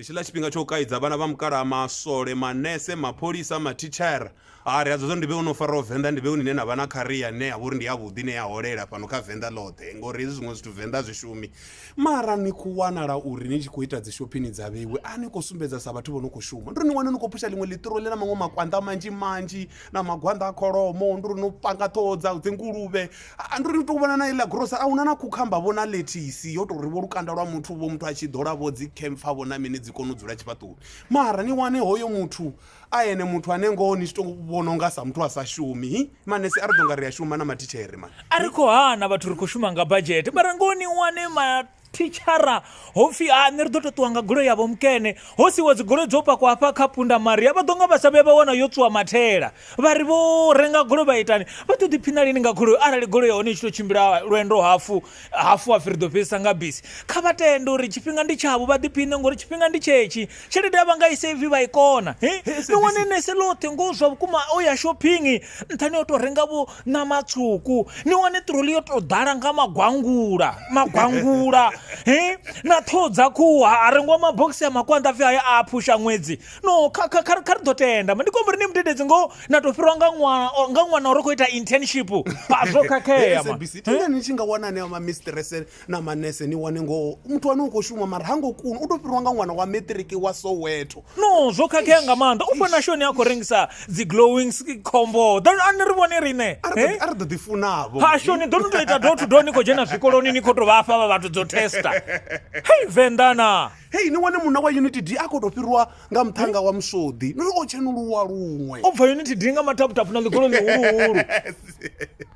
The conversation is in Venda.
ndi tshiḽa tshifhinga tsho kaidza vhana vha mukalaha masole manese mapholisa mathichara a ri adzo zwo ndi vhe no faraho venḓa ndi vhe nine na vha na kharia ne ya vha uri ndi yavhuḓi ne ya holela fhano kha venḓa ḽoṱhe ngori hezwi zwiṅwe zwithu venḓa zwi shumi mara ni khou wanala uri ni tshi khou ita dzi shophini dza vheiwe a ni khou sumbedza sa vhathu vho no khou shuma nduri ni wane ni khou phusha ḽiṅwe ḽiṱiro ḽi na maṅwe makwanḓa manzhi manzhi na magwanḓa a kholomo nduri no panga ṱhoho dza dzinguluvhe Ha, ndi ri u tou vhona na iḽa grosa a huna na khukhamba vho na lethisi yo tou ri vho lukanda lwa muthu vho muthu a tshi ḓola vho dzi khempfa vho na mini dzi kone u dzula tshifhaṱuwoni mara ni wane hoyo muthu a ene muthu ane ngoho ni tshi to vhona unga sa muthu a sa shumi hi manese a ri ḓo nga ri a shuma na matitshee mani a ri khou hana vhathu ri khou shuma nga badzhete mara ngoho ni wane ma thitshara ho pfhi a nṋe ri ḓo to ṱuwa nga goloi yavho mukene ho siwa dzigoloi dzo pakwa hafha kha punda maria vha ḓo nga vha sa vhuya vha wana yo tswiwa mathela vha ri vho renga goloi vha itani vha ḓo ḓiphina lini nga goloi arali goloi ya hone i tshi to tshimbila lwendo hafu hafu hafu ri ḓo fhedzisa nga bisi kha vha tende uri tshifhinga ndi tshavho vha ḓiphine ngori tshifhinga ndi tshetshi tshelede ya vha nga i save vha i kona ni wane nese ḽoṱhe ngo zwa vhukuma o ya shopping nṱhani o to renga vho ṋama tswuku ni wane ṱiroli yo tou ḓala nga magwangula magwangula he na ṱhoho dza khuhu ha a rengiwa mabogisi a makwanḓa pfhi haya a phusha ṅwedzi no kha kha kha kha ri ḓo tenda ndi khou ri ni mudededzi ngo na tou fhirwa nga ṅwana nga ṅwana uri khou ita internship a zwo khakhea ma ni tshi nga wana aneo ma mistress na manese ni wane ngoho muthu wane u khou shuma mara ha ngo kuna u tou fhiriwa nga ṅwana wa matric wa soweto no zwo khakhea nga maanḓa u fana shoni a khou rengisa dzi glowing sk- khombo Ḓo- a ni ri vhone riṋe a ri Eh? ḓo- a ri ḓo ḓifunavho ha shoni ḓo ni tou ita do to do ni khou dzhena zwikoloni ni khou tou vha fha vha vhathu dzo testa hei venḓana hei ni wane munna wa unity d a khou tou fhiriwa nga muṱhanga wa musodi no o tshenuluwa luṅwe u bva unity dinga mataputapu na ḽigolo ḽihuluhulu